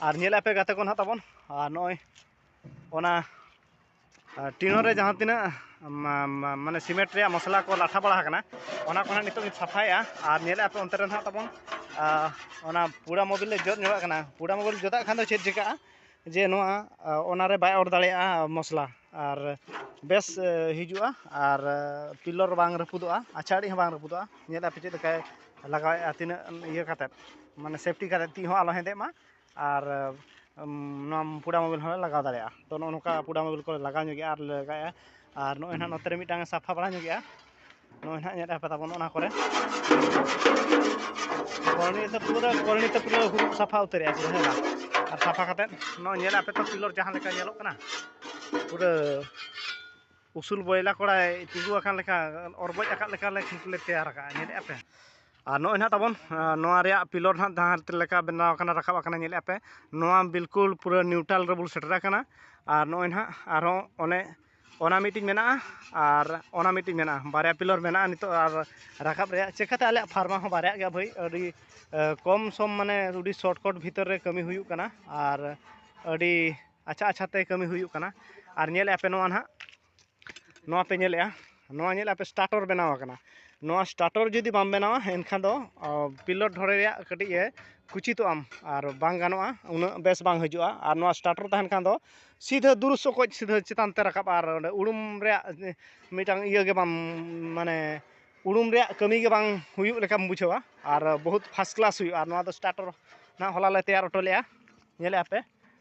ᱟᱨ ᱧᱮᱞ ᱟᱯᱮ ᱜᱟᱛᱮ ᱠᱚ ᱱᱟᱦᱟᱜ ᱛᱟᱵᱚᱱ ᱟᱨ ᱱᱚᱜᱼᱚᱭ ᱚᱱᱟ ᱴᱤᱱᱚ ᱨᱮ ᱡᱟᱦᱟᱸ ᱛᱤᱱᱟᱹᱜ ᱢᱟᱱᱮ ᱥᱤᱢᱮᱱᱴ ᱨᱮᱭᱟᱜ ᱢᱚᱥᱞᱟ ᱠᱚ ᱞᱟᱴᱷᱟ ᱵᱟᱲᱟ ᱟᱠᱟᱱᱟ ᱚᱱᱟ ᱠᱚ ᱱᱟᱦᱟᱜ ᱱᱤᱛᱚᱜ ᱤᱧ ᱥᱟᱯᱷᱟᱭᱮᱜᱼᱟ ᱟᱨ ᱧᱮᱞ ᱟᱯᱮ ᱚᱱᱛᱮ ᱨᱮ ᱱᱟᱦᱟᱜ ᱛᱟᱵᱚᱱ ᱚᱱᱟ ᱯᱩᱲᱟ ᱢᱳᱵᱤᱞ ᱞᱮ ᱡᱚᱫ ᱧᱚᱜᱟᱜ ᱠᱟᱱᱟ ᱯᱩᱲᱟ ᱢᱳᱵᱤᱞ ᱡᱚᱫᱟᱜ ᱠᱷᱟᱱ ᱫᱚ ᱪᱮᱫ ᱪᱤᱠᱟᱹᱜᱼᱟ ᱡᱮ ᱱᱚᱣᱟ ᱚᱱᱟᱨᱮ ᱵᱟᱭ ᱚᱨ ᱫᱟᱲᱮᱭᱟᱜᱼᱟ ᱢᱚᱥᱞᱟ ᱟᱨ ᱵᱮᱥ ᱦᱤᱡᱩᱜᱼᱟ ᱟᱨ ᱯᱤᱞᱚᱨ ᱵᱟᱝ ᱨᱟᱹᱯᱩᱫᱚᱜᱼᱟ ᱟᱪᱷᱟᱲᱤᱡ ᱦᱚᱸ ᱵᱟᱝ ᱨᱟᱹᱯᱩᱫᱚᱜᱼᱟ ᱧᱮᱞ ᱟᱯᱮ ᱪᱮᱫ ᱞᱮᱠᱟᱭ ᱞᱟᱜᱟᱣᱮᱫᱼᱟ ᱛᱤᱱᱟᱹᱜ ᱤᱭᱟᱹ ᱠᱟᱛᱮᱫ ᱢᱟᱱᱮ ᱥᱮᱯᱷᱴᱤ ᱠᱟᱛᱮᱫ ᱛᱤ ᱦᱚᱸ ᱟᱞᱚ ᱦᱮᱸᱫᱮᱜ ᱢᱟ ᱟᱨ ᱱᱚᱣᱟ ᱯᱩᱰᱟ ᱢᱳᱵᱟᱭᱤᱞ ᱦᱚᱸᱞᱮ ᱞᱟᱜᱟᱣ ᱫᱟᱲᱮᱭᱟᱜᱼᱟ ᱛᱳ ᱱᱚᱜᱼᱚ ᱱᱚᱝᱠᱟ ᱯᱩᱰᱟ ᱢᱳᱵᱟᱭᱤᱞ ᱠᱚᱞᱮ ᱞᱟᱜᱟᱣ ᱧᱚᱜ ᱮᱫᱟ ᱟᱨ ᱞᱮ ᱞᱟᱜᱟᱣ ᱮᱫᱟ ᱟᱨ ᱱᱚᱜᱼᱚᱭ ᱱᱟᱦᱟᱜ ᱱᱚᱛᱮ ᱨᱮ ᱢᱤᱫᱴᱟᱝ ᱥᱟᱯᱷᱟ ᱵᱟᱲᱟ ᱧᱚᱜ ᱮᱫᱟ ᱱᱚᱜᱼᱚᱭ ᱱᱟᱦᱟᱜ ᱧᱮᱞᱮᱫᱼᱟ ᱯᱮ ᱛᱟᱵᱚᱱ ᱚᱱᱟ ᱠᱚᱨᱮᱫ ᱠᱚᱞᱚᱱᱤ ᱨᱮᱫᱚ ᱯᱩᱨᱟᱹ ᱠᱚᱞᱚᱱᱤ ᱫᱚ ᱯᱩᱨᱟᱹ ᱦᱩᱲᱩ ᱠᱚ ᱥᱟᱯᱷᱟ ᱩᱛᱟᱹᱨᱮᱫᱼᱟ ᱯᱩᱨᱟᱹ ᱦᱮᱸ ᱵᱟᱝ ᱟᱨ ᱥᱟᱯᱷᱟ ᱠᱟᱛᱮᱫ ᱱᱚᱜᱼᱚᱭ ᱧᱮᱞᱮᱫᱼᱟ ᱯᱮ ᱛᱚ ᱯᱤᱞᱚᱨ ᱡᱟᱦᱟᱸ ᱞᱮᱠᱟ ᱧᱮᱞᱚᱜ ᱠᱟᱱᱟ ᱯᱩᱨᱟᱹ ᱩᱥᱩᱞ ᱵᱚᱭᱞᱟ ᱠᱚᱲᱟᱭ ᱛᱤᱸᱜᱩ ᱟᱠᱟᱱ ᱞᱮᱠᱟ ᱚᱨ ᱵᱚᱡ ᱟᱠᱟᱫ ᱞᱮᱠᱟ ᱞᱮ ᱠᱷᱮᱛ ᱞᱮ ᱛᱮᱭᱟᱨ ᱟᱠᱟᱫᱼᱟ ᱧᱮᱞᱮᱫᱼᱟ ᱯᱮ ᱟᱨ ᱱᱚᱜᱼᱚᱭ ᱱᱟᱦᱟᱜ ᱛᱟᱵᱚᱱ ᱱᱚᱣᱟ ᱨᱮᱭᱟᱜ ᱯᱤᱞᱚᱨ ᱱᱟᱦᱟᱜ ᱡᱟᱦᱟᱸ ᱞᱮᱠᱟ ᱵᱮᱱᱟᱣ ᱟᱠᱟᱱᱟ ᱨᱟᱠᱟᱵ ᱟᱠᱟᱱᱟ ᱧᱮᱞᱮᱫᱼᱟ ᱯᱮ ᱱᱚᱣᱟ ᱵᱤᱞᱠᱩᱞ ᱯᱩᱨᱟᱹ ᱱᱤᱭᱩᱴᱨᱟᱞ ᱨᱮᱵᱚᱱ ᱥᱮᱴᱮᱨ ᱟᱠᱟᱱᱟ ᱟᱨ ᱱᱚᱜᱼᱚᱭ ᱱᱟᱦᱟᱜ ᱟᱨᱦᱚᱸ ᱚᱱᱮ ᱚᱱᱟ ᱢᱤᱫᱴᱤᱡ ᱢᱮᱱᱟᱜᱼᱟ ᱟᱨ ᱚᱱᱟ ᱢᱤᱫᱴᱤᱡ ᱢᱮᱱᱟᱜᱼᱟ ᱵᱟᱨᱭᱟ ᱯᱤᱞᱚᱨ ᱢᱮᱱᱟᱜᱼᱟ ᱱᱤᱛᱚᱜ ᱟᱨ ᱨᱟᱠᱟᱵ ᱨᱮᱭᱟᱜ ᱪᱤᱠᱟᱹᱛᱮ ᱟᱞᱮᱭᱟᱜ ᱯᱷᱟᱨᱢᱟ ᱦᱚᱸ ᱵᱟᱨᱭᱟᱜ ᱜᱮᱭᱟ ᱵᱷᱟᱹᱭ ᱟᱹᱰᱤ ᱠᱚᱢ ᱥᱚᱢ ᱢᱟᱱᱮ ᱟᱹᱰᱤ ᱥᱚᱨᱴ ᱠᱚᱴ ᱵᱷᱤᱛᱤᱨ ᱨᱮ ᱠᱟᱹᱢᱤ ᱦᱩᱭᱩᱜ ᱠᱟᱱᱟ ᱟᱨ ᱟᱹᱰᱤ ᱟᱪᱪᱷᱟ ᱟᱪᱪᱷᱟ ᱛᱮ ᱠᱟᱹᱢᱤ ᱦᱩᱭᱩᱜ ᱠᱟᱱᱟ ᱟᱨ ᱧᱮᱞᱮᱫ ᱟᱯᱮ ᱱᱚᱣᱟ ᱱᱟᱦᱟᱜ ᱱᱚᱣᱟ ᱯᱮ ᱧᱮᱞᱮᱫᱼᱟ ᱱᱚᱣᱟ ᱧᱮᱞᱮᱫ ᱟᱯᱮ ᱥᱴᱟᱴᱚᱨ ᱵᱮᱱᱟᱣ ᱟᱠᱟᱱᱟ ᱱᱚᱣᱟ ᱥᱴᱟᱴᱚᱨ ᱡᱩᱫᱤ ᱵᱟᱢ ᱵᱮᱱᱟᱣᱟ ᱮᱱᱠᱷᱟᱱ ᱫᱚ ᱯᱤᱞᱚᱴ ᱰᱷᱚᱲᱮ ᱨᱮᱭᱟᱜ ᱠᱟᱹᱴᱤᱡ ᱮ ᱠᱩᱪᱤᱛᱚᱜ ᱟᱢ ᱟᱨ ᱵᱟᱝ ᱜᱟᱱᱚᱜᱼᱟ ᱩᱱᱟᱹᱜ ᱵᱮᱥ ᱵᱟᱝ ᱦᱤᱡᱩᱜᱼᱟ ᱟᱨ ᱱᱚᱣᱟ ᱥᱴᱟᱴᱚᱨ ᱛᱟᱦᱮᱱ ᱠᱷᱟᱱ ᱫᱚ ᱥᱤᱫᱷᱟᱹ ᱫᱩᱨᱩᱥ ᱚᱠᱚᱡ ᱥᱤᱫᱷᱟᱹ ᱪᱮᱛᱟᱱ ᱛᱮ ᱨᱟᱠᱟᱵᱼᱟ ᱟᱨ ᱚᱸᱰᱮ ᱩᱲᱩᱢ ᱨᱮᱭᱟᱜ ᱢᱤᱫᱴᱟᱝ ᱤᱭᱟᱹ ᱜᱮ ᱵᱟᱢ ᱢᱟᱱᱮ ᱩᱲᱩᱢ ᱨᱮᱭᱟᱜ ᱠᱟᱹᱢᱤ ᱜᱮ ᱵᱟᱝ ᱦᱩᱭᱩᱜ ᱞᱮᱠᱟᱢ ᱵᱩᱡᱷᱟᱹᱣᱟ ᱟᱨ ᱵᱚᱦᱩᱛ ᱯᱷᱟᱥᱴ ᱠᱞᱟᱥ ᱦᱩᱭᱩᱜᱼᱟ ᱟᱨ ᱱᱚᱣᱟ ᱫᱚ ᱥᱴᱟᱴᱚᱨ ᱱᱟᱦᱟᱜ ᱦᱚᱞᱟ ᱞᱮ ᱛᱮᱭᱟᱨ ᱦᱚᱴᱚ ᱞᱮᱫᱼᱟ ᱧᱮᱞᱮᱫ ᱟᱯᱮ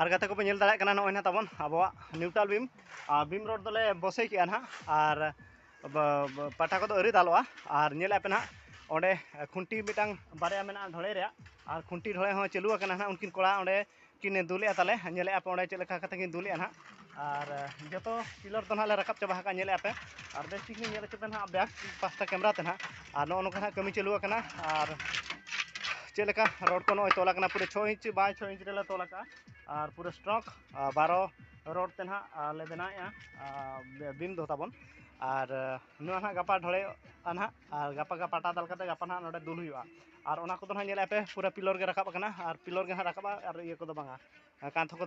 ᱟᱨ ᱜᱟᱛᱮ ᱠᱚᱯᱮ ᱧᱮᱞ ᱫᱟᱲᱮᱭᱟᱜ ᱠᱟᱱᱟ ᱱᱚᱜᱼᱚᱭ ᱱᱟᱦᱟᱜ ᱛᱟᱵᱚᱱ ᱟᱵᱚᱣᱟᱜ ᱱᱤᱭᱩᱴᱨᱟᱞ ᱵᱤᱢ ᱵᱤᱢ ᱨᱳᱰ ᱫᱚᱞᱮ ᱵᱚᱥᱮ ᱠᱮᱜᱼᱟ ᱱᱟᱦᱟᱜ ᱟᱨ ᱯᱟᱴᱟ ᱠᱚᱫᱚ ᱟᱹᱣᱨᱤ ᱫᱟᱞᱚᱜᱼᱟ ᱟᱨ ᱧᱮᱞᱮᱫ ᱯᱮ ᱱᱟᱦᱟᱜ ᱚᱸᱰᱮ ᱠᱷᱩᱱᱴᱤ ᱢᱤᱫᱴᱟᱝ ᱵᱟᱨᱭᱟ ᱢᱮᱱᱟᱜᱼᱟ ᱰᱷᱚᱲᱮ ᱨᱮᱭᱟᱜ ᱟᱨ ᱠᱷᱩᱱᱴᱤ ᱰᱷᱚᱲᱮ ᱦᱚᱸ ᱪᱟᱹᱞᱩ ᱟᱠᱟᱱᱟ ᱱᱟᱦᱟᱜ ᱩᱱᱠᱤᱱ ᱠᱚᱲᱟ ᱚᱸᱰᱮ ᱠᱤᱱ ᱫᱩᱞᱮᱜᱼᱟ ᱛᱟᱞᱮ ᱧᱮᱞᱮᱫᱼᱟ ᱯᱮ ᱚᱸᱰᱮ ᱪᱮᱫ ᱞᱮᱠᱟ ᱠᱟᱛᱮᱫ ᱠᱤᱱ ᱫᱩᱞᱮᱜᱼᱟ ᱱᱟᱦᱟᱜ ᱟᱨ ᱡᱚᱛᱚ ᱯᱤᱞᱟᱨ ᱫᱚ ᱱᱟᱦᱟᱜ ᱞᱮ ᱨᱟᱠᱟᱵ ᱪᱟᱵᱟ ᱟᱠᱟᱫ ᱧᱮᱞᱮᱫ ᱟᱯᱮ ᱟᱨ ᱵᱮᱥ ᱴᱷᱤᱠ ᱞᱤᱧ ᱧᱮᱞ ᱦᱚᱪᱚ ᱯᱮ ᱱᱟᱦᱟᱜ ᱵᱮᱠ ᱯᱟᱥᱴᱟ ᱠᱮᱢᱮᱨᱟ ᱛᱮ ᱱᱟᱦᱟᱜ ᱟᱨ ᱱᱚᱜᱼᱚ ᱱᱚᱝᱠᱟ ᱱᱟᱦᱟᱜ ᱠᱟᱹᱢᱤ ᱪᱟᱹᱞᱩ ᱟᱠᱟᱱᱟ ᱟᱨ ᱪᱮᱫ ᱞᱮᱠᱟ ᱨᱚᱰ ᱠᱚ ᱱᱚᱜᱼᱚᱭ ᱛᱚᱞ ᱟᱠᱟᱱᱟ ᱯᱩᱨᱟᱹ ᱪᱷᱚ ᱤᱧᱪᱤ ᱵᱟᱭ ᱪᱷᱚ ᱤᱧᱪᱤ ᱨᱮᱞᱮ ᱛᱚᱞ ᱟᱠᱟᱫᱼᱟ ᱟᱨ ᱯᱩᱨᱟᱹ ᱥᱴᱨᱚᱠ ᱵᱟᱨᱚ ᱨᱚᱰ ᱛᱮ ᱱᱟᱦᱟᱜ ᱞᱮ ᱵᱮᱱᱟᱣᱮᱫᱼᱟ ᱵᱤᱢ ᱫᱚ ᱛᱟᱵᱚᱱ ᱟᱨ ᱱᱚᱣᱟ ᱱᱟᱦᱟᱜ ᱜᱟᱯᱟ ᱰᱷᱚᱲᱮᱜᱼᱟ ᱱᱟᱦᱟᱜ ᱟᱨ ᱜᱟᱯᱟ ᱜᱮ ᱯᱟᱴᱟ ᱫᱟᱞ ᱠᱟᱛᱮᱫ ᱜᱟᱯᱟ ᱱᱟᱦᱟᱜ ᱱᱚᱰᱮ ᱫᱩᱞ ᱦᱩᱭᱩᱜᱼᱟ ᱟᱨ ᱚᱱᱟ ᱠᱚᱫᱚ ᱱᱟᱦᱟᱜ ᱧᱮᱞᱮᱫᱼᱟ ᱯᱮ ᱯᱩᱨᱟᱹ ᱯᱤᱞᱟᱨ ᱜᱮ ᱨᱟᱠᱟᱵ ᱟᱠᱟᱱᱟ ᱟᱨ ᱯᱤᱞᱟᱨ ᱜᱮ ᱱᱟᱦᱟᱜ ᱨᱟᱠᱟᱵᱼᱟ ᱟᱨ ᱤᱭᱟᱹ ᱠᱚᱫᱚ ᱵᱟᱝᱟ ᱠᱟᱸᱛ ᱠᱚᱫᱚ